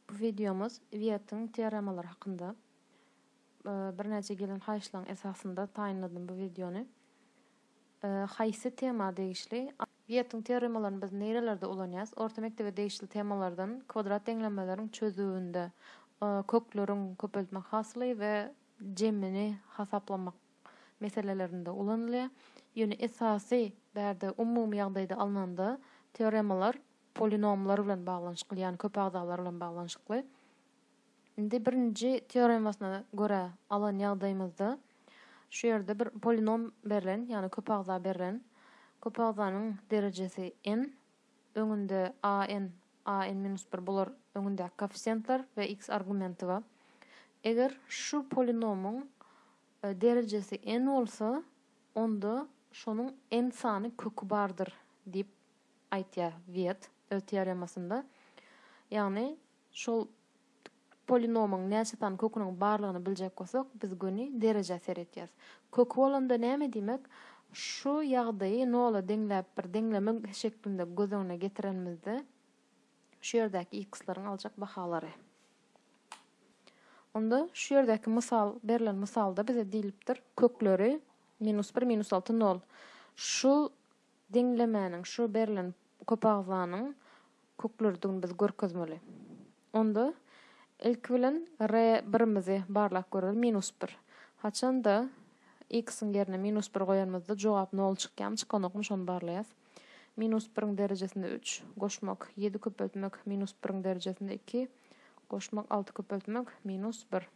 Bu wideomyz Wýetiň teoremalary hakynda. Birnäçe gelen haýyşlaryň esasynda taýynladym bu wideony. Haýsy tema degişli? Wýetiň teoremalaryny biz nirelerde ulanýarys? Orta mekdebe degişli temalardan kwadrat deňlenmeleriň çözüwinde kökleriň köpeltmek hasyly we jemini hasaplamak meselelerinde ulanylýar. Ýöne esasy bärde umumy ýagdaýda alnanda teoremalar polinomlar bilen baglanyşykly, ýagny köp agzalar bilen baglanyşykly. Indi birinji teoremasyna görä alan ýagdaýymyzda şu ýerde bir polinom berlen, ýagny köp agza berlen. Köp agzanyň derejesi n, öňünde a n, a n minus bir bular öňündäki koeffisiýentler we x argumenti bar. Eger şu polinomyň e, derejesi n bolsa, onda şonuň n sany köki bardyr diýip aýtýar Wiet öz teoremasynda. Ýagny şol polinomyň näçe sany köküniň barlygyny biljek bolsak, biz göni derejä seretýäs. Köki bolanda näme diýmek? Şu ýagdaýy nola deňläp bir deňleme şeklinde göz öňüne getirenimizde, şu ýerdäki x-laryň aljak bahalary. Onda şu ýerdäki mysal, berlen mysalda bize diýlipdir, kökleri minus bir, minus alty, nol. Şu Deňlemäniň şu berlen köpagzlanyň köklerdigini biz görkezmeli. Onda, ilki bilen, re birimizi barlap göreli, minus bir. Haçan-da, x-iň ýerine minus bir goýanymyzda jogap nol çykýamy, çykanokmy, şony barlaýas. Minus biriň derejesinde üç, goşmak, ýedi köpeltmek, minus biriň derejesinde iki, goşmak, alty köpeltmek, minus bir.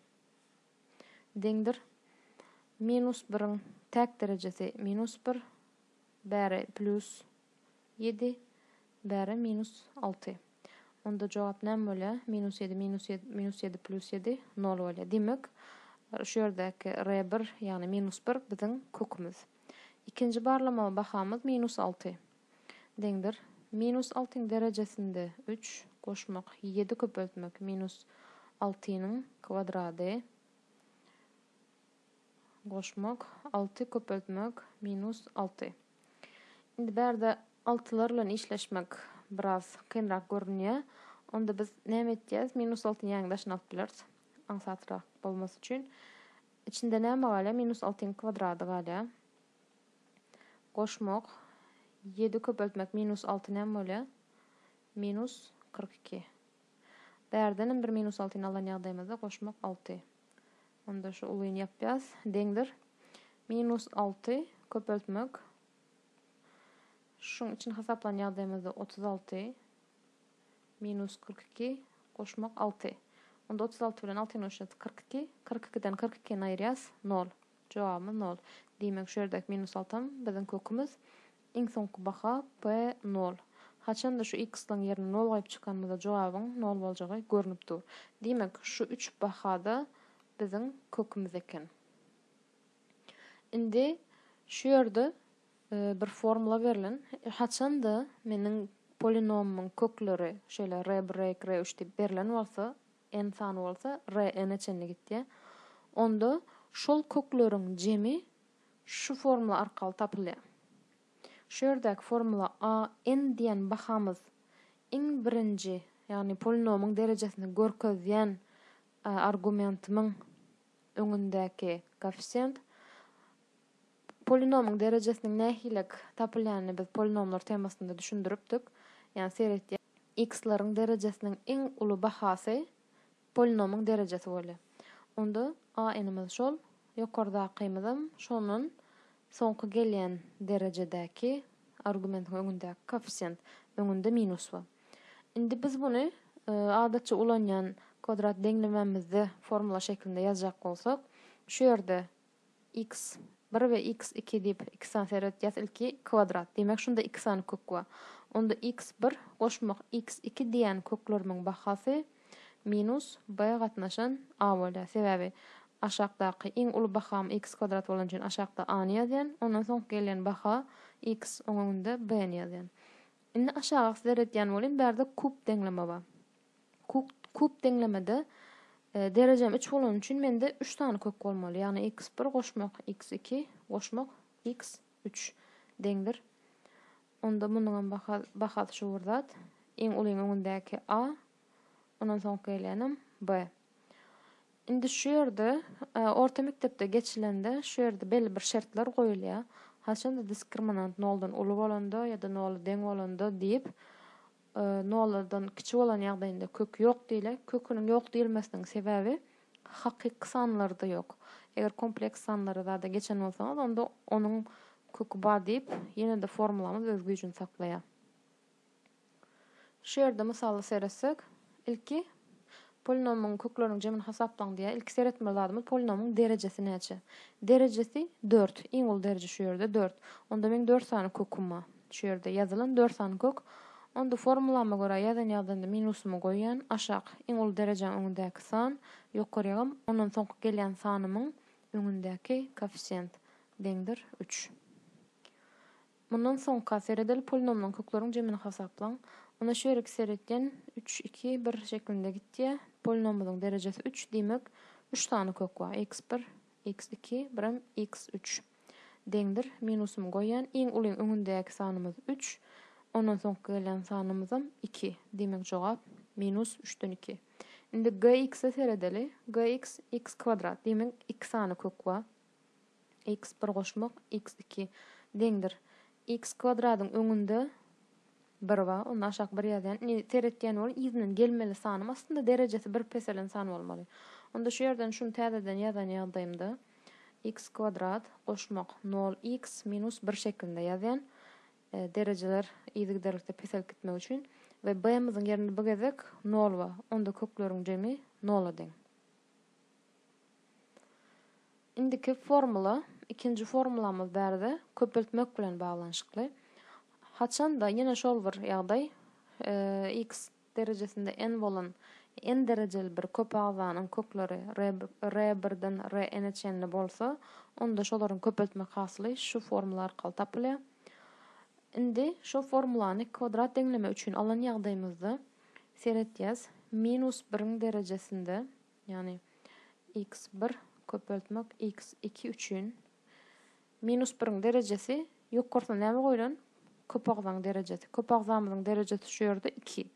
Deňdir. Minus biriň täk derejesi, minus bir. Bäri plýus ýedi, bäri minus alty. Onda jogap näme bolýar? Minus ýedi minus ýedi minus ýedi plýus ýedi nol bolýar. Diýmek, şu ýerdäki R bir, ýagny minus bir biziň kökümiz. Ikinji barlamaga bahamyz minus alty deňdir. Minus altyň derejesinde üç goşmak, ýedi köpeltmek minus altynyň kwadrady. goşmak, alty köpeltmek, minus alty. Indi bärde altylar bilen işleşmek biraz kynrak görünýär. Onda biz näme etýäs? Minus altyny ýäňi daşyna alyp bileris. Aňsatrak bolmasy üçin. Içinde näme galýar? Minus altyň kwadrady galýar. Goşmak, ýedi köpeltmek, minus alty näme bolýar? Minus kyrk iki. Bärdenem bir minus altyny alan ýagdaýymyzda goşmak alty. Onda şu ulyny ýapýas. Deňdir. Minus alty köpeltmek. Şuň üçin hasaplan ýagdaýymyzda otuz alty. Minus kyrk iki goşmak alty. Onda otuz alty bilen altyny goşýas kyrk iki. Kyrk ikiden kyrk ikini aýyrýas. Nol. Jogabymyz nol. Diýmek şu ýerdäki minus altam biziň kökümiz. Iň soňky baha P nol. Haçanda şu x-laň ýerine nol goýup çykanymyzda jogabyň nol boljagy görnüp dur. Diýmek, şu üç baha-da biziň kökümiz eken. Indi şu ýerde bir formula berlen. Haçanda meniň polinomymyň kökleri şeýle R bir, R iki, R üç diýip berlen bolsa, n sany bolsa, R n-e çenli gitýär. Onda şol kökleriň jemi Şu formula arkaly tapylýar. Şu ýerdäki formula a n diýen bahamyz iň birinji, ýagny polinomyň derejesini görkezýän argumentimiň öňündäki koeffisient. Polinomyň derejesiniň nähilek tapylýanyny biz polinomlar temasynda düşündiripdik. Ýagny seretýär. X-leriň derejesiniň iň uly bahasy Polinomyň derejesi bolýar. Onda AN-imiz şol, ýokardakymyzam şondan soňky gelýän derejedäki argumentiň öňündäki koeffisient, öňünde minus bar. Indi biz buny adatça ulanýan kwadrat deňlememizde formula şeklinde ýazjak bolsak, şu ýerde X bir we X iki diýip iki sany seredýäs ilki kwadrat diýmek şunda iki sany kök bar. Onda X bir goşmak X iki diýen köklerimiň bahasy minus B gatnaşan A bolýar. Sebäbi aşakdaky iň uly baham X kwadrat bolany üçin aşakda A ny ýazýan, ondan soňky gelýän baha X oň öňünde B ny ýazýan. Indi aşaga seredýän bolýan bärde kub deňleme bar. Kuk kub deňlemede derejem üç bolany üçin mende üç sany kök bolmaly. Ýagny x bir goşmak x iki goşmak x üç deňdir. Onda munuň hem baha, bahasy şu bir zat. Iň ulyň öňündäki a, ondan soňky gelýänem b. Indi şu ýerde e, orta mekdepde geçilende şu ýerde belli bir şertler goýulýar. Haçanda diskriminant noldan uly bolanda ýa-da nola deň bolanda diýip noladan kiçi bolan ýagdaýynda kök ýok diýle. Köküniň ýok diýilmesiniň sebäbi hakyky sanlarda ýok. Eger kompleks sanlary zada geçen bolsaňyz, onda onuň köki bar diýip, ýene-de formulamyz öz güýjüni saklaýar. Şu ýerde mysala seretsek, ilki Polinomyň kökleriniň jemini hasaplaň diýýär. Ilki seretmeli zadymyz polinomyň derejesi näçe? Derejesi dört. Iň uly dereje şu ýerde dört. Onda meň dört sany köküm bar. Şu ýerde ýazylan dört sany kök. Onda formulama görä ýazan ýagdaýymda minusymy goýýan. Aşak, iň uly derejäň öňündäki san, ýokarygam ondan soňky gelýän sanymyň öňündäki koeffisient deňdir üç. Mundan soňka seredeli polnomlan kökleriň jemini hasaplaň. Onda şu ýerki seretýän üç, iki, bir şeklinde gitýä. Polinomymyzyň derejesi üç, diýmek, üç sany kök bar, iks bir, iks iki, birem iks üç. Deňdir. Minusymy goýýan. Iň uly öňündäki sanymyz üç. Ondan soňky gelýän sanymyzam iki. Diýmek, jogap minus üçden iki. Indi GX-e seredeli. GX, iks kwadrat. Diýmek, iki sany kök bar. X bir goşmak X iki deňdir X kwadradyň öňünde bir bar onda aşak bir ýazýan indi seret diýen boluň yzyndan gelmeli sanym aslynda derejesi bir peselen san bolmaly onda şu ýerden şuny täzeden ýazan ýagdaýymda X kwadrat goşmak nol X minus bir şeklinde ýazýan derejeler yzygiderlikde peselip gitmek üçin we B myzyň ýerinde bu gezek nol bar onda kökleriň jemi nola deň. Indiki formula ikinji formulamyz bärde köpeltmek bilen baglanyşykly. Haçanda ýene şol bir ýagdaý x derejesinde n bolan n derejeli bir köp agzanyň kökleri r birden r n-e çenli bolsa, onda şolaryň köpeltmek hasyly şu formula arkaly tapylýar. Indi şu formulany kwadrat deňleme üçin alan ýagdaýymyzda seretýäs. Minus biriň derejesinde Ýagny x bir köpeltmek x iki üçin minus biriň derejesi ýokarsyna näme goýlan? Köp agzaň derejesi. Köp agzamyzyň derejesi şu ýerde iki.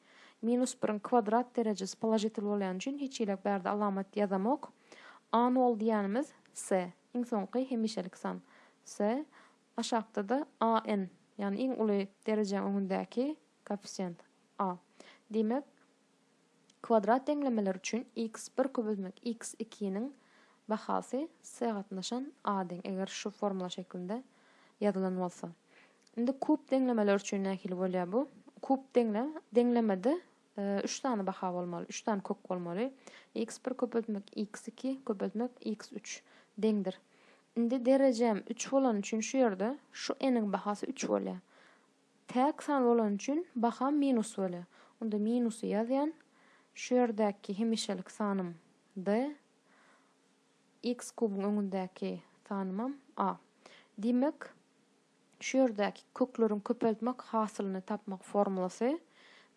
Minus biriň kwadrat derejesi položitel bolýany üçin hiç hili bärde alamat ýazamok. A nol diýýänimiz s, iň soňky hemişelik san. S, aşakda-da a n, ýagny iň uly derejäň öňündäki koeffisient a. Diýmek. Kwadrat deňlemeler üçin x bir köpeltmek x iki niň bahasy s gatnaşan a deň, eger şu formula şeklinde ýazylan bolsa. Indi kub deňlemeler üçin nähili bolýar bu? Kub deňle deňlemede e, üç sany baha bolmaly, üç sany kök bolmaly. x bir köpeltmek x iki köpeltmek x üç deňdir. Indi derejem üç bolany üçin şu ýerde şu n-iň bahasy üç bolýar. Täk san bolany üçin baha minus bolýar. Onda minusy ýazýan. Şu ýerdäki hemişelik sanym D. X kubyň öňündäki sanymam A. Diýmek, şu ýerdäki kökleriň köpeltmek hasylyny tapmak formulasy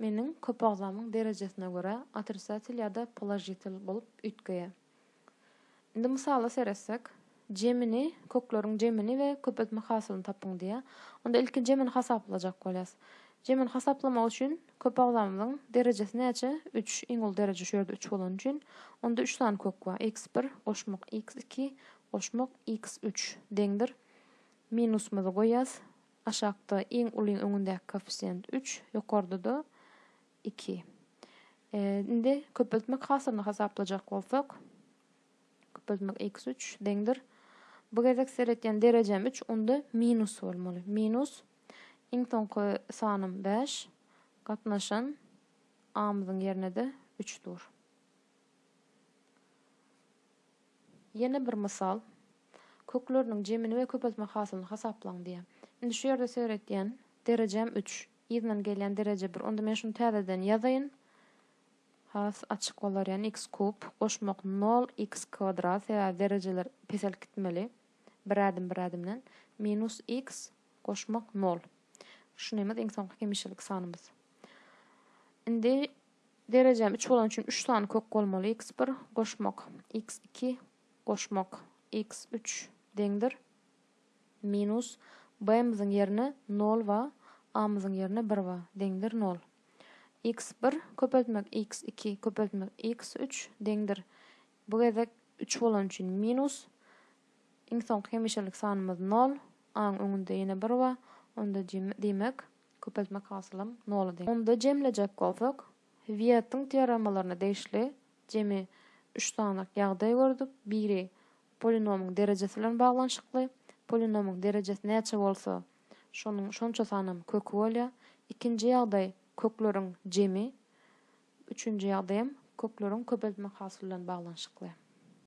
meniň köpagzamyň derejesine görä otrisatel ýa-da položitel bolup üýtgeýär. Indi mysala seretsek, jemini, kökleriň jemini we köpeltme hasylyny tapyň diýýär. Onda ilki jemini hasaplajak bolýas. Jemini hasaplamak üçin köp agzamyzyň derejesi näçe? Üç. Iň uly dereje şu ýerde üç bolany üçin, onda üç sany kök bar. Iks bir goşmak iks iki goşmak iks üç deňdir. Minusymyzy goýýas. Aşakda iň ulyň öňündäki koeffisient üç, ýokarda-da Iki. Indi köpeltmek hasylyny hasaplajak bolsak, köpeltmek x üç deňdir. Bu gezek seretýän derejem üç, onda minus bolmaly. Minus iň soňky sanym bäş, gatnaşan amyzyň ýerine-de üç dur. Ýene bir mysal. Kökleriniň jemini we köpeltmek hasylyny hasaplaň diýýär. Indi şu ýerde seretýän derejem üç. Yzyndan gelýän dereje bir. Onda men şuny täzeden ýazaýyn. Has açyk bolar ýan x kub goşmak nol x kwadrat sebäbi derejeler peselip gitmeli. Bir ädim bir ädimden. Minus x goşmak nol. Şu nämez iň soňky hemişelik sanymyz. Indi derejäm üç bolan üçin üç sany kök bolmaly x bir goşmak x iki goşmak x üç deňdir. Minus b-myzyň ýerine nol ba, a-myzyň ýerine bir ba, deňdir nol. Iks bir köpeltmek iks iki köpeltmek iks üç deňdir, bu gezek üç bolany üçin, minus iň soňky hemişelik sanymyz nol, a-nyň öňünde ýene bir ba, onda jemi diýmek, köpeltmek hasylym nola deň. Onda jemlejek bolsak, Wýetiň teoremalaryna degişli, Jemi üç sanalyk ýagdaý gördük. Biri polinomyň derejesi bilen baglanyşykly. Polinomyň derejesi näçe bolsa, şonuň şonça sanam köki bolýar. Ikinji ýagdaý kökleriň jemi. Üçünji ýagdaý hem kökleriň köpeltmek hasyly bilen baglanyşykly.